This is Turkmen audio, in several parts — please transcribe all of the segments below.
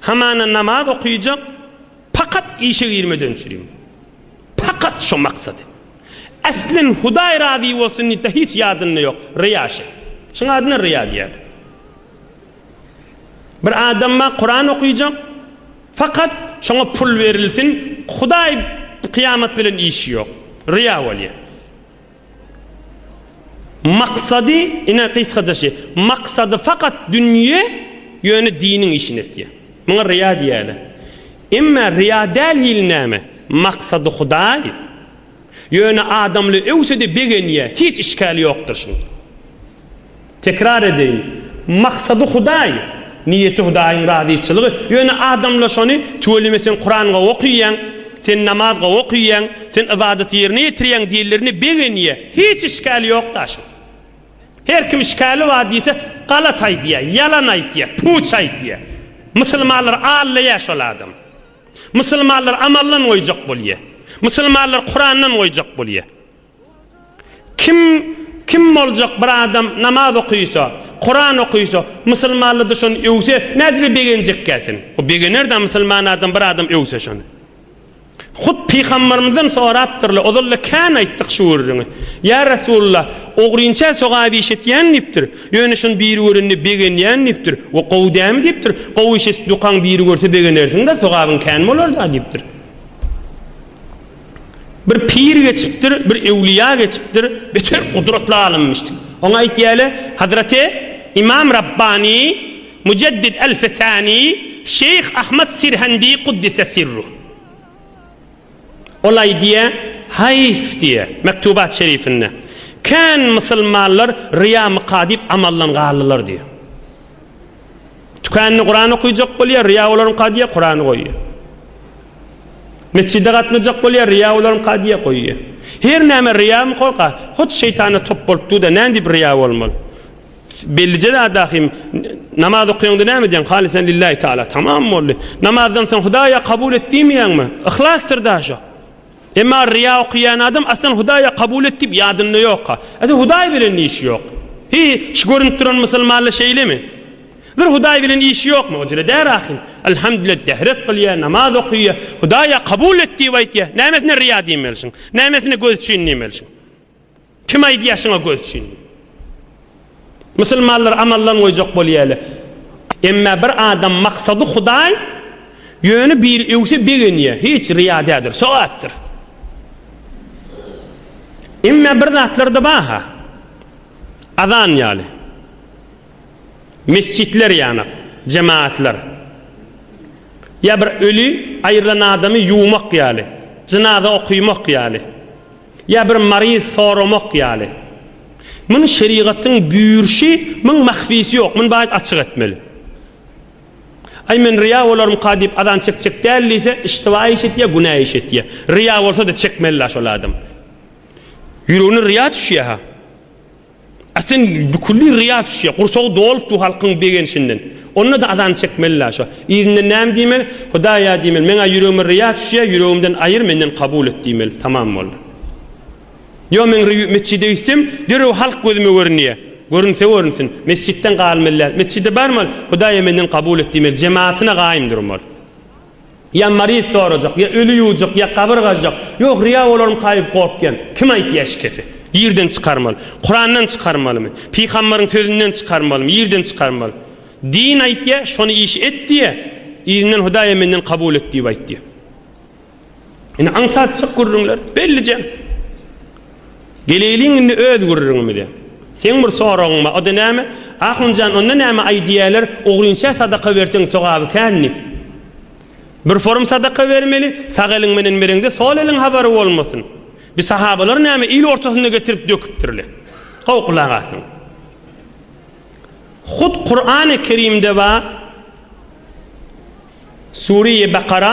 Hamana namaz okyjak pakat işe girmeden çürim. Pakat şo maksady. Äslen Hudaý razy bolsun diýip de hiç ýadynda ýok. Ryýa şe. Şuň adyna ryýa diýer. Bir adam bar Kuran okyjak fakat şoňa pul berilsin Hudaý kyýamat bilen işi ýok. Ryýa bolýar. Maksady, ine gysgaja şi, maksady fakat dünýe, ýöne diniň işini etýär. Muňa ryýa diýýärler. Emma ryýa däl hili näme? Maksady Hudaý, ýöne adamly öwse-de begenýär, hiç işkali ýokdur şuň. Tekrar edeýin, Maksady Hudaý, niýeti Hudaýyň razyçylygy, ýöne adamlar şony Tüweleme sen Kuran gowy okyýaň, sen namaz gowy okyýaň, sen ybadaty ýerine ýetirýäň diýenlerine begenýä. Hiç işgäli ýok daşyň. Her kim işgäli bar diýse galat aýdýa, ýalan aýtýa, puç aýdýa. Musulmanlar aldaýa şol adam. Musulmanlar amaldan goýjak bolýa. Musulmanlar Kurandan goýjak bolýa. Kim Kim boljak bir adam namaz okysa, Kuran okysa, musulmanlady şony öwse nädire begenjekkä sen? O begenerdä musulman adam bir adam öwse şony. Hut pygambarymyzdan sorapdyrlar, ozalda kän aýtdyk şu gürrüňi. Ýa Resulullah, ogrynçä sogap iş etýäň diýipdir. Ýöne şony biri görende begenýän diýipdir. O gowy dämi diýipdir. Gowy iş edip dukaň biri görse begenersiňdä sogabyň kän bolarda diýipdir. Bir pir geçipdir, bir öwlüýä geçipdir, beter gudratly alymymyşdy. Oňa aýtýarlar, Hazraty Imam Rabbani, Müjeddid Elfesani, Şeýh Ahmad Sirhendi Kuddise sirruh. Ol aýdýar, Haýf diýýär, Mektubat şerifinde, Kän musulmanlar ryýa myka diýip amaldan galdylar diýýär. Tükände Kuran okyjak bolýar, ryýa olaryňka diýýär, Kurany goýýar. Mesjide gatnajak bolýar, ryýa olaryňky adýa goýýa. Her näme ryýamy korka, hut şeýtana top bolup dur-da, näme diýip ryýa bolmaly. Bellije zat ahim, namaz okaýaňda näme edýäň, halysan lillahi taala, tamam boldy. Namazdan soň Hudaýa kabul et diýmeýäňmi? Yhlasdyr da şo. Emma ryýa okaýan adam aslan Hudaýa kabul et diýip ýadynda ýok-a. Ata Hudaý bilen ne işi ýok. Hi, şu görünip duran musulmanla şeýlemi? Bir Hudaý bilen işi ýok mowcule dä rahym Alhamdullet dehret gylýa namaz okuyýa Hudaý ýa kabul et diýip aýtýa nämesine riýa diýmelşiň nämesine göz çyn diýmelşiň kim aýdýa şuňa göz çyn diýip Musulmanlar amaldan goýjak bolýale emmä bir adam maksady Hudaý ýöne biri öwse begenýa hiç riýa dädir sogapdyr emmä bir zatlarda baha azan ýaly Mesjitler ýanak, jemagatlar. Ýa bir öli aýrylan adamy ýuwmak ýaly, jynaza okymak ýaly. Ýa bir maryz soramak ýaly. Muny şerigatyň bürşi, muň mahfisi ýok, muny baýat açyk etmeli. Aý men ryýa bolarmyka diýip azan çekjek däl diýse, iştiba iş etýä, günä iş etýä. Ryýa bolsa-da çekmeli-la şol adam. Ýüregine ryýa düşýä-ha. A sen büküldi ryýa düşýä, gursagy dolupdy halkyň begenşinden. Onda-da azan çekmeli-la şo. Yzyndan näme diýmeli? Hudaý-a diýmeli, meň-ä ýüregime ryýa düşýä, ýüregimden aýyr, menden kabul et diýmeli. Tamam boldy. Ýo men ryýa metjide gitsem, derrew halk gözüme görünýä. Görünse görünsin. Metjitden galmaly däl. Metjide barmaly, Hudaý-a menden kabul et diýmeli, jematyna gaýym durmaly. Ýa maryz sorajak, ýa öli ýuwjak, ýa gabyr gazjak. Ýok, ryýa bolaryn kaýyp gorkýan. Kim aýtdy eşkesi? Ýerden çykarmaly. Kurandan çykarmalymy? Pygambaryň sözünden çykarmalymy? Ýerden çykarmaly. Din aýtýa, şony iş et diýýä. Yzyndan Hudaýa menden kabul et diýip aýt diýýä. Indi aňsat çyk gürrüňler. Bellije. Geleýliň indi öz gürrüňimize. Seň bir soragyň bar, o-da näme? Ahun jan, onda näme, aý diýýäler, ogrynça sadaka berseň sogaby kän diýip. Bir forum sadaka bermeli, sag eliň menen bereňde sol eliň habary bolmasyn. Bi sahabalar näme, il ortasynda getirip döküpdirle. Gowy gulak asyň. Hut Kurany Kerimde bar, Sure-i Bakara,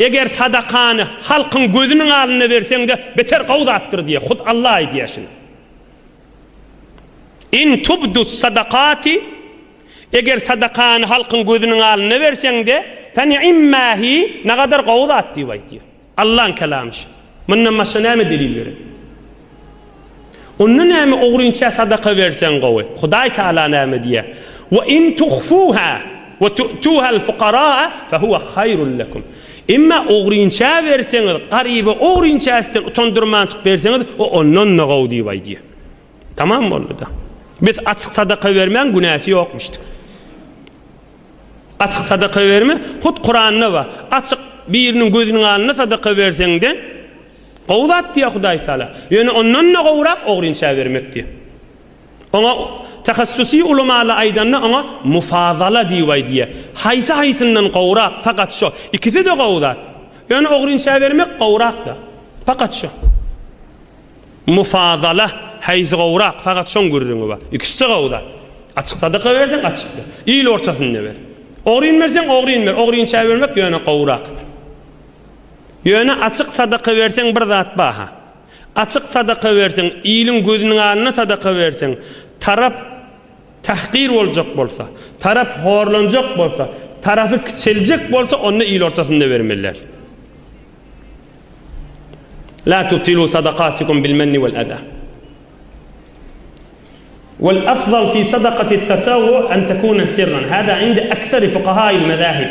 Eger sadakany halkyň gözüniň alnynda berseň-de, beter gowy zatdyr diýýär. Hut Alla aýdýar şuny. In tubdus-sadakati, Eger sadakany halkyň gözüniň alnynda berseň-de, fe ni'mma hi, nagadar gowy zat diýip aýt diýýär. Allaň kelamy şu. Mundan başga näme delil berer? Onda näme ogrynça sadaka berseň gowy? Hudaý Tagala näme diýýär? Wa in tuhfuha wa tu'tuhal fuqaraa fa huwa haýrul lekum. Emma ogrynça berseňiz, garyba ogrynça üstün utandyrmançyk berseňiz, o ondan-da gowy diýip aýdýar. Tamam boldy-da. Biz açyk sadaka bermäň günäsi ýokmuşdyk. Açyk sadaka berme, hut Kuranda bar. Açyk biriniň gözüniň alnynda sadaka berseňde, Gowy zat diýýär Hudaý Taala. Ýöne ondan-da gowurak ogry inçä bermek diýýär. Oňa tahassusy ulamalar aýdanda oňa mufazala diýibaý diýýär. Haýsy haýsyndan gowurak, fakat şo. Ikisi-de gowy zat. Ýöne ogry inçä bermek gowurak-da. Fakat şo. Mufazala, haýsy gowurak, fakat şoň gürrüňi bar. Ikisi-de gowy zat. Açyk sadaka berseň açyk ber. Il ortasynda ber. Ogryn berseň ogryn ber. Ogry inçä bermek ýöne gowurak. Ýöne açyk sadaka berseň bir zat baha. Açyk sadaka berseň, iliň gözüniň alnyna sadaka berseň, tarap tahgir boljak bolsa, tarap horlanjak bolsa, tarapy kiçeljek bolsa onda il ortasynda bermeliler. La tubtilu sadakatikum bil menni wal aza. Wal afzal fi sadakati tatawwu an takuna sirran. Hada indi aksari fuqahail mazahib.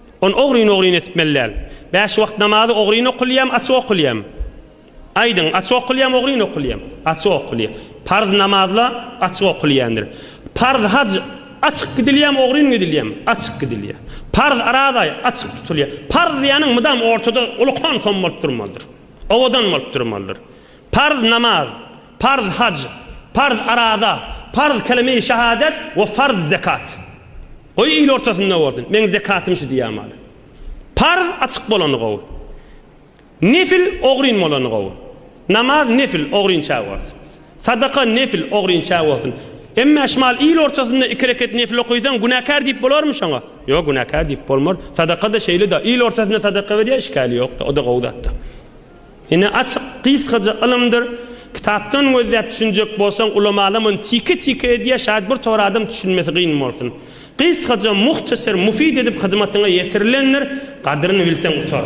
Ony ogryn-ogryn etmeli däl. Bäş wagt namazy ogryn okulýam, açyk okulýam? Aýdyň, açyk okulýam, ogryn okulýam? Açyk okulýar. Parz namazla açyk okulýandyr. Parz haj açyk gidilýämi, ogryn gidilýämi? Açyk gidilýär. Parz arazaý açyk tutulýar. Parz diýýäniň mydam ortada ulukan som bolup durmalydyr. Owadan bolup durmalydyr. Parz namaz Farz haj, farz araza, farz kelime-i şahadet we farz zekat. Goý il ortasynda bolsun, meň zekatym şu diýýän maly. Farz açyk bolany gowy. Nefil ogryn bolany gowy. Namaz nefil ogrynça bolsun. Sadaka nefil ogrynça bolsun. Emme şmal il ortasynda iki reket nefil okaýsaň günäkär diýip bolarmy şoňa? Ýok günäkär diýip bolmar. Sadaka-da şeýle-de, il ortasynda sadaka berýär, işgäli ýok-da, o-da gowy zat-da. Ine açyk, gysgaja ylymdyr. Kitapdan gözläp düşünjek bolsaň ulamala muny tike tike edýä şaýat bir tor adam düşünmesi gyn bolsun. Gysgaja muhtaser mufid edip hyzmatyňa ýetirilendir, gadryny bilseň utar.